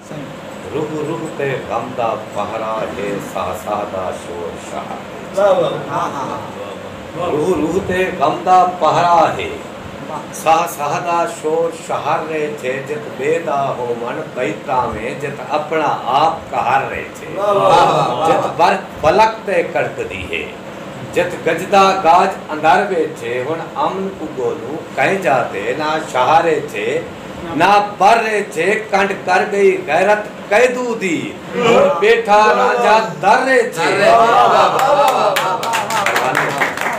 رگ رگ تے غم دا پہرا ہے ساہ ساہ دا شور شاہ ہے۔ رگ رگ تے غم دا پہرا ہے ساہ ساہ دا شور شہر رے چھے جت بے دا ہوون بئی تاویں جت اپنا آپ قہر رے چھے جت برق فلک تے کڑک دی ہے جت گجدا گاج اندر وے چھے ہن امن کو گولوں کئیں جا تے نہ شاہ رے چھے نہ بر اے جھے کنڈ کر گئی غیرت قیدو دی ہن بیٹھا رانجھا در اے جھے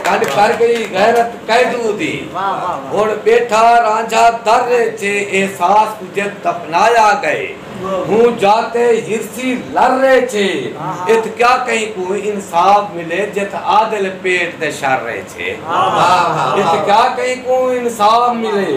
کنڈ کر گئی غیرت قیدو دی ہن بیٹھا رانجھا در اے جھے احساس کجھے دفنایا گئے ہوں جاتے ہرسی لر اے جھے اتھ کیا کہیں کوں انصاف ملے جتھ عادل پیٹ دے شر اے جھے اتھ کیا کہیں کوں انصاف ملے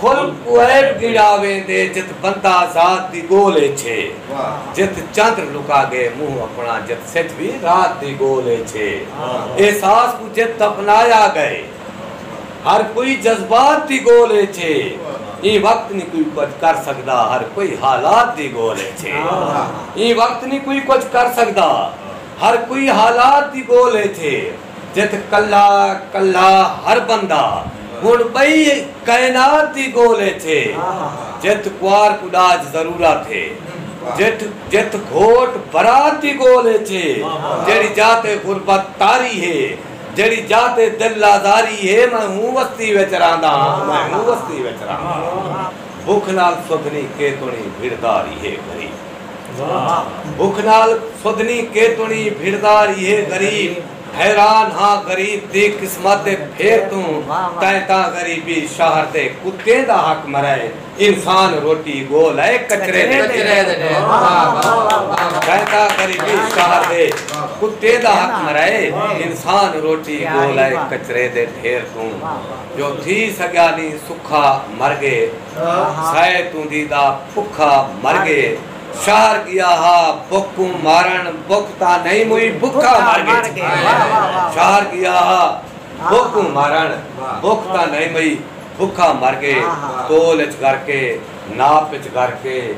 خلق کوں عیب گھنڑا ویندے جت بندہ ذات دی گول اچ ہے جت چندر لکا گئے منہ اپنا جت سجھ وی رات دی گول اچ ہے احساس کوں جت دفنایا گئے ہر کوئی جذبات دی گول اچ ہے ایں وقت نی کوئی کجھ کر سگدا ہر کوئی حالات دی گول اچ ہے ایں وقت نی کوئی کجھ کر سگدا ہر کوئی حالات دی گول اچ ہے۔ جت کلا کلا ہر بندہ ہن بئی کائنات دی گول اچ اے جت کوار کوں ڈاج ضرورت اے جٹ جت گھوٹ برات دی گول اچ اے جیڑھی جا تے غربت طاری اے جیڑھی جا تے دل آزاری اے میں ہوں وستی وچ رہندا ہاں میں ہوں وستی وچ رہندا ہاں بکھ نال سودھنی کیتنڑی بھڑداری اے غریب بکھ نال سدھنی کیتنڑی بھردا ریہے غریب حیران ہاں غریب دی قسمت ء پھر توں تیں تاں غریبی شہر تے کتیں دا حق مرائے انسان روٹی گول ء کچرے دے تیں تاں غریبی شہر دے کتیں دا حق مرائے انسان روٹی گول ء کچرے دے پھر توں جو تھی سگیا نی سکھا مر گئے سائے توں دیدا بھکھا مر گئے شہر گیا ہا بھک کوں مارن بھک تاں نہیں موئی بھکھا مر گئے شہر گیا ہا بھک کوں مارن بھک تاں نہیں موئی بھکھا مر گئے تول اچ گھر کے ناپ اچ گھر کے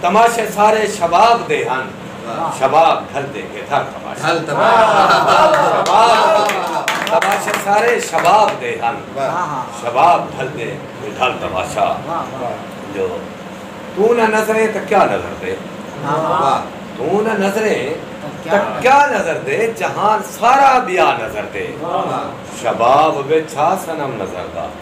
تماشے سارے شباب دے ہن شباب ڈھل دے کے تھر تماشے تماشے سارے شباب دے ہن شباب ڈھل دے کے ڈھل تماشا جو تو نہ نظریں تو کیا نظر دے تو نہ نظریں تو کیا نظر دے جہان سارا بیا نظر دے شباب وچھا سنم نظر دا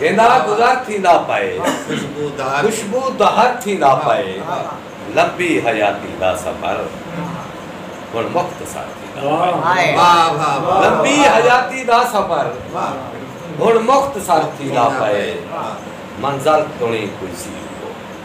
ہندا گزر تھیندا پئے خوشبو دہر تھیندا پئے لمبی حیاتی دا سفر ہن مختصر تھیندا پئے لمبی حیاتی دا سفر ہن مختصر تھیندا پئے منزل تنی کوئی سی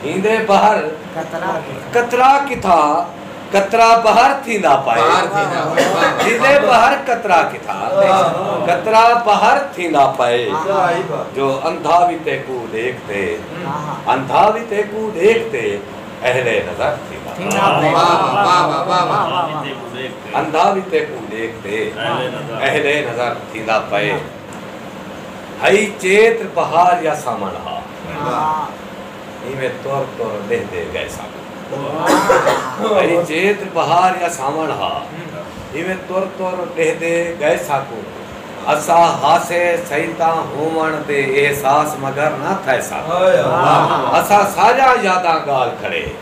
تھیندے بحر قطرہ کتھا قطرہ بحر تھیندا پائے تھیندے بحر قطرہ کتھا قطرہ بحر تھیندا پائے جو اندھا وی تیکو دیکھ تے اندھا وی تیکو دیکھ تے اہل نظر تھیندا اندھا وی تیکو دیکھ تے اہل نظر تھیندا پائے ہئی چیتر بہار یا ساون ہا۔ ایویں تر تر لہدے گئے سن۔ ہئی چیتر بہار یا ساون ہا۔ ایویں تر تر لہدے گئے ساکوں۔ اسا ہاسے سئی تاں ہوون دے احساس مگر نہ تھئے سن۔ اسا ساریاں یاداں گال کھڑے۔